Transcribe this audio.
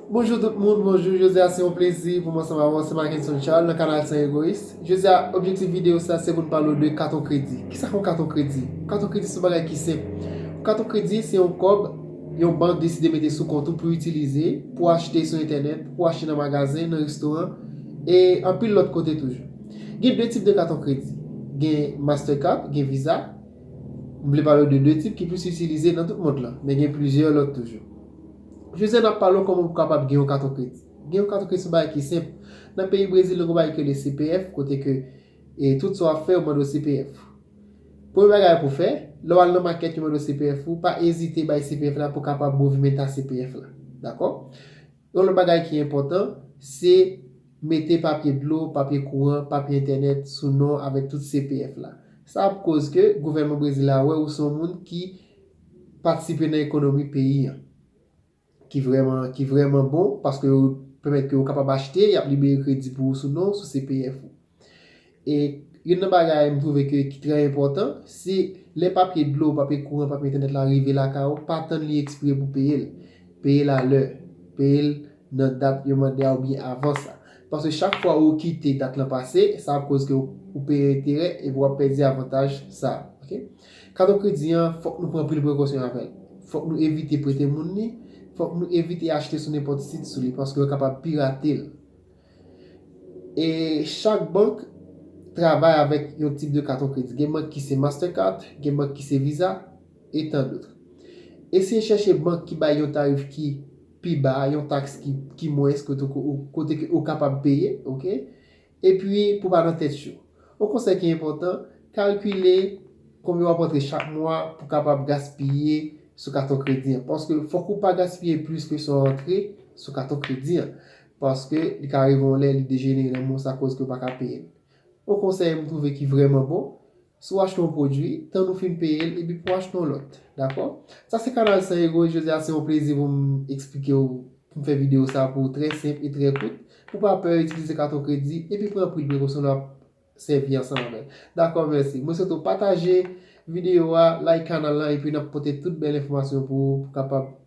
Bonjou tout moun, bonjou, jodi a se yon plezi pou m ansanm avè w, se Mackenson Charles nan kanal San Egoyis. Jodi a, objektif videyo sa se pou n pale w de katon kredi. Kisa k yon katon kredi? Katon kredi se yon bagay ki senp. Katon kredi se yon kòb yon bank deside mete sou kont ou pou itilize, pou achte sou entènèt, pou achte nan magazen, nan restoran, e anpil lòt kote toujou. Gen 2 tip de katon kredi, gen Mastercard, gen Visa. M vle pale w de 2 tip ki plis itilize nan tout mond lan, men gen plizyè lòt toujou. José nap pale w koman pou kapab gen yon katon kredi. Gen yon katon kredi se yon bagay ki senp. Nan peyi Brezil nou gen yon bagay ki rele CPF kote ke tout sa wap fè yo mande w CPF. Premye bagay pou w fè, lè w al nan makèt yo mande w CPF ou, pa ezite bay CPF la pou kapab movimenta CPF la. Dakò? Yon lòt bagay ki enpòtan, se mete papye dlo, papye kouran, papye entènèt sou non avèk tout CPF la. Sa ap koz ke gouvènman Brezil la wè ou se yon moun ki patisipe nan ekonomi peyi an ki vrèman ki vrèman bon paske yo pèmèt ke ou kapab achte, y ap libere kredi pou ou sou non w, sou CPF ou. E youn nan bagay m twouve ke ki trè enpòtan, se lè papye dlo, papye kouran, papye entènèt la rive lakay ou, pa tann li ekspire pou peye l. Peye l alè. Peye l nan dat yo mande a oubyen avan sa. Paske chak fwa ou kite dat lan pase, sa ap koz ke ou peye enterè epi w ap pèdi avantaj sa a. Kato kredi an, fòk nou pran anpil prekosyon avè l. Fòk nou evite prete moun li, fòk nou evite achte sou nenpòt sit sou li paske yo kapab pirate l. E chak bank travay avèk yon tip de katon kredi. Gen bank ki se Mastercard, gen bank ki se Visa, e tan dotre. Eseye chèche bank ki bay yon tarif ki pi ba, yon taks ki mwens kote ke ou kapab peye, ok. Epi, pou pa nan tèt yo. Yon konsèy ki enpòtan, kalkile konbyen w ap rantre chak mwa pou kapab gaspiye sou katon kredi an. Paske fòk ou pa gaspiye plis ke sa w rantre sou katon kredi an. Paske li ka rive yon lè li dejenere nan men w sa koz ke ou pa ka peye l. Yon konsèy m twouve ki vrèman bon, Si w achte yon pwodui, tann ou fin peye l epi pou w achte yon lòt. Dakò? Sa se kanal san ego e jodi a se yon plezi pou m eksplike w, pou m fè videyo sa pou ou trè senp e trè kout, pou w pa pè itilize katon kredi epi pran anpil prekosyon lè w ap sèvi ansanm avè l. Dakò, mèsi. Mwen swete w pataje videyo a, like kanal lan epi n ap pote tout bèl enfòmasyon pou ou pou w kapab.